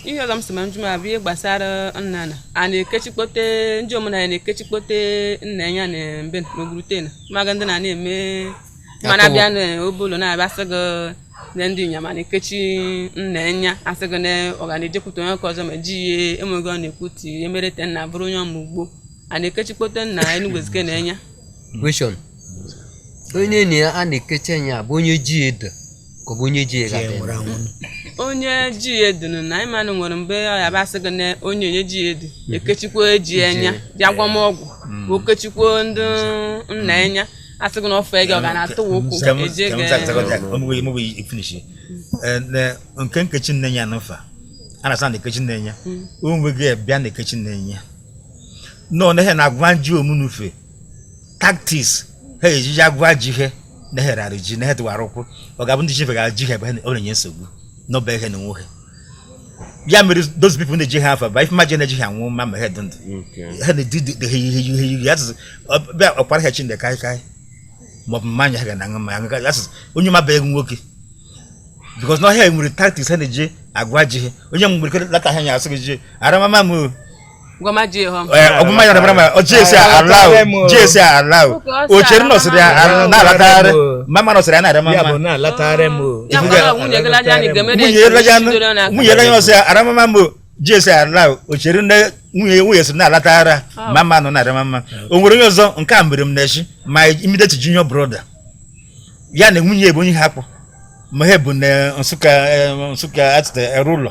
ihe ọzọ m sị ma njụma bụ ihe gbasara nna na a na-ekechikpote ndị omenala na-ekechikpote nna enya na be na Ogurute na maga ndị na na-eme mana bịa na Obollo na-abịa sị gị na ndị inyama na-ekechi nna nya asị gị na ọ ga na-ejekwute onyeke ọzọ ma ji ihe enweghị ọ na-ekwu ti emerete nna bụrụ onye ọma ugbo a na-ekechikpote nna Enugu Ezike na enya onye na ya a na-ekechi enya bụ onye ji edo ka ọ bụ onye ji ya ji enwere ga-adị anwụrụ onye ji ya edunu na ịmanụ nwere mgbe ọ ya basị gị na onye onye ji ya edu ekechikwa eji enya ji agwamọgwụ ka okechikwa ndị nna enya asị gị na ọfọ ego ọ ga na-atụ wa ụkwụ Ka m- eje ka m gị zaghachi ọzọ. Ọ mụghị- mụghị ifinish. Eh, na- nke nkechi nna enya na mfa a na-asa na ekechi nna enya o nweghị bịa na ekechi nna enya nọ na ihe na-agwa nju omunufe tactics ha ejiji agwa ji ihe na-eherarị ji na hedwara ụkwụ ọ ga-abụ ndị chifegara ji ihe ebe ha na- ọ na-enye nsogbu n'ọba ihe na onwe ha ya mere those people na-eji ha afa ba ife maji na-eji ha anwụ ma ma ha dị ndụ ha na-edi dị- dị- ha ihe ihe ihe ya tụzụ bịa ọkpara ha chineke kaị kaị ma ọ bụ mmanya ha ga na aṅụ mmanya aṅụ kaị ya tụzụ onye mabeghị nwoke because na ọhịa nwere tactics ha na-eji agwa ji ihe onye nwere ike lata ha nya asị gị ji aramama m o ọgụma ya dabara ma jesi alaụ jesi alaụ ochere nọsịrị ya na-alatagharị mama nọsịrị ya na-adị mama nwunye ere ya ọsị ya aramama mbụ jesi alaụ ochere nne nwunye nwunye sịrị na-alatagharị mama nọ na-adị mama o nwere onye ọzọ nke a mere m na-echi my immediate junior brother ya na nwunye bụ onye ha kpọ ma ha bụ na Nsukka Nsukka atịta ere ụlọ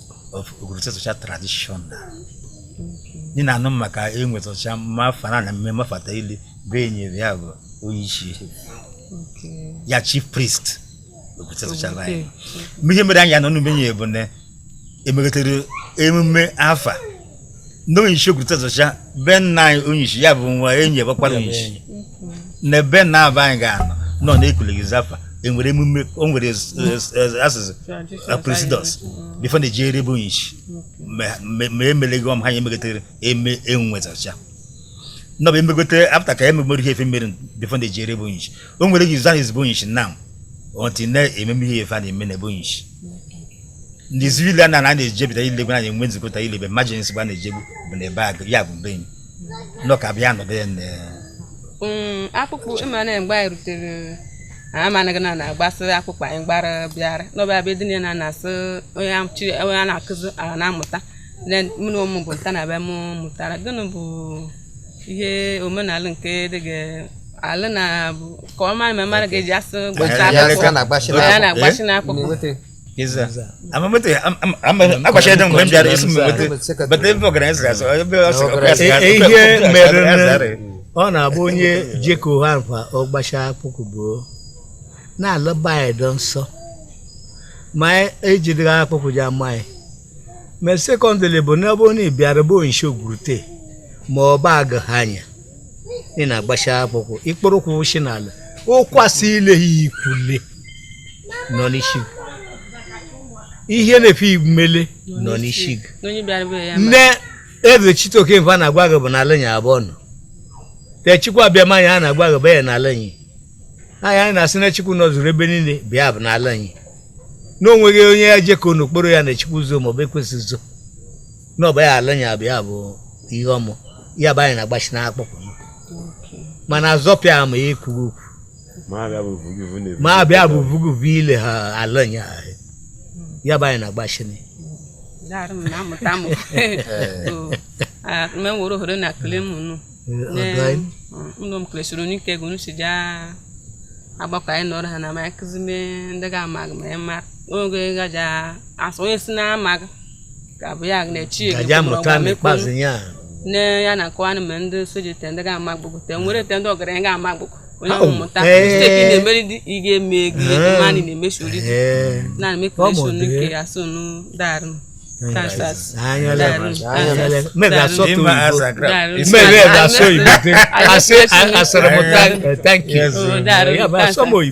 of Ogurute Ezọcha traditional ndị na-anụ maka Enwe Ezọcha ma afa na na mmemme fata ili be enyere ya bụ onye isi Okay. ya chief priest Ogurute Ezọcha anyị Okay. mgbe ihe mere anyị anọ n'umenye bụ na emegotere emume afa na onyeisi Ogurute Ezọcha be nna anyị onyeisi ya bụ nwa enyi ebekwara onyeisi na be nna be anyị ga-anọ nọ na-ekuleghị zafa enwere emume o nwere asụsụ procedures before na-eji ere bụ onyeisi ma emeleghị ọm ha ya emegotere eme Enwe Ezọcha nọ bụ emegote after ka ememere ihe efe mere before na-eji ere bụ onyeisi o nwere gị zan ezigbo onyeisi na until na-ememe ihe efe a na-eme na ebe onyeisi ndị civilian na na na-ejebita ilegwe na enwe nzikọta ilebe emergency gba na-ejegbu bụ na ebe agụ ya bụ mbe enyi nọ ka bịa nọdụ ya na Mm, akpụkpọ ịma na mgbe anyị rutere amanaghị na na-agbasị akpụkpọ anyị gbara bịara n'ọba abịa dị na na-asụ onye a- chi- onye a na-akụzi ala na-amụta na mụ na ụmụ bụ nta na be m mụtara gịnị bụ ihe omenala nke dị gị alụ na bụ ka ọ mara ma mmadụ ga-eji asụ gbachi Ya- ya- ya- akpụkpọ ya na-agbachi ya n'akpụkpọ. na-agbachi n'akpụkpọ na-enweta Iza. Amma mutu akwashe don gwam jari isu mutu. But they were going to say, "I'll be also a press." Ihe mere ọ na-abụ onye jeko ha mkpa ọ gbachaa akpụkụ bụ na-alọba anyị dọ nsọ ma ejidere akpụkụ je ama anyị ma secondly bụ n'ebe onye bịara bụ onye isi ogwurute ma ọ bụ agụ ha anya ị na-agbacha akpụkụ ị kpọrọ ụkwụ shi n'ala ụkwasị ile ya ikwule nọ n'isi gị ihe na-efe imele nọ n'isi gị nne eze Chitoke mfe a na-agwa gị bụ n'ala anyị a abụọ nọ te Chukwu Abịama anyị a na-agwa gị bụ ya n'ala anyị anyị na-asị na Chukwu nọzuru ebe niile bịa bụ n'ala anyị na onweghị onye ya jekọ n'okporo ya na Chukwu zo maọbụ Ekwensu zo n'ọba ya ala ya bụ ya bụ ihe ọmụ ya bụ anyị na-agbachi n'akpụkpọ mana azọpịa ama ya ekwughị okwu ma abịa bụ vuguvu ile ha ala ya ya bụ anyị na-agbachi na Daarụ m na-amụta m Oo. Ah, me woro hore na kele m nu ọdụanyị ụlọ m kelesoro n'ike ego nu si ja agbakọ anyị nọrọ ha na ma akụzi me ndị ga-amaghị ma ya ma oge gaja asọ onye si na-amaghị ga-abụ ya na chi ka ya mụta n'ikpeazụ ya nne ya na nkọwa anụ ma ndị nso ji te ndị ga-ama gbogbo te nwere te ndị ọgaranya ga-ama gbogbo onye ahụ mụta misteki na-emeri dị ị ga-eme ego mmadụ na-emechi ori gị na mekration nke ya so nu darụ asọmpi